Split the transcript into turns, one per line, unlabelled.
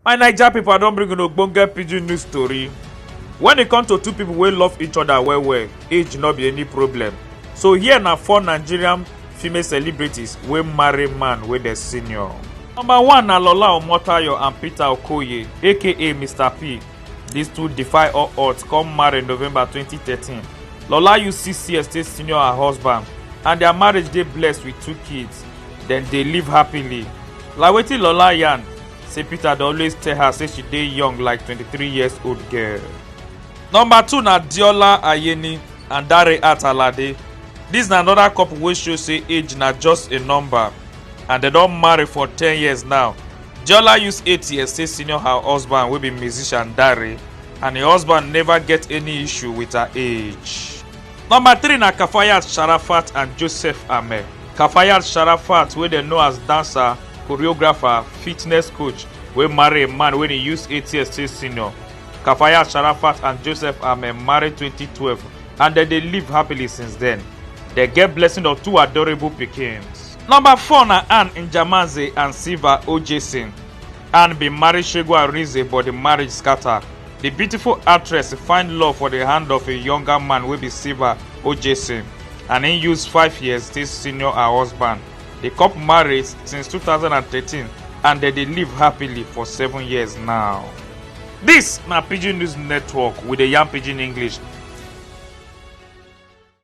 My Naija pipo I don bring una ogbonge pidgin news tori. Wen e come to two pipo wey love each oda well well, age no be any problem. So here na four Nigerian female celebrities wey marry man wey dem senior. Number one na Lola Omotayo and Peter Okoye aka Mr P. Dis two defy all odds come marry November twenty thirteen. Lola use six years take senior her husband and dia marriage dey blessed wit two kids. Dem dey live happily. Like wetin Lola yarn, say peter dey always tell her say she dey young like 23 years old girl. number two na diola ayeni and dare atalade dis na anoda couple wey show say age na just a number and dem don marry for 10 years now diola use 8 years take senior her husband wey be musician dare and im husband neva get any issue wit her age. Number three na Kafayat Sharafat and Joseph Ameh. Kafayat Sharafat wey dem know as dancer, choreographer, fitness coach wey marry a man wey dey use eight years still senior. Kafayat Sharafat and Joseph Ameh marry 2012 and dem dey live happily since then. Dem get blessing of two adorable pikins. Number four na Anne Njamaze and Silva Ojesin. Anne bin marry Shegu Arinze but di marriage scatter. di beautiful actress find love for di hand of a younger man wey be silva ojesin and im use five years take senior her husband di couple married since 2013 and dem dey live happily for seven years now dis na pidgin news network we dey yarn pidgin english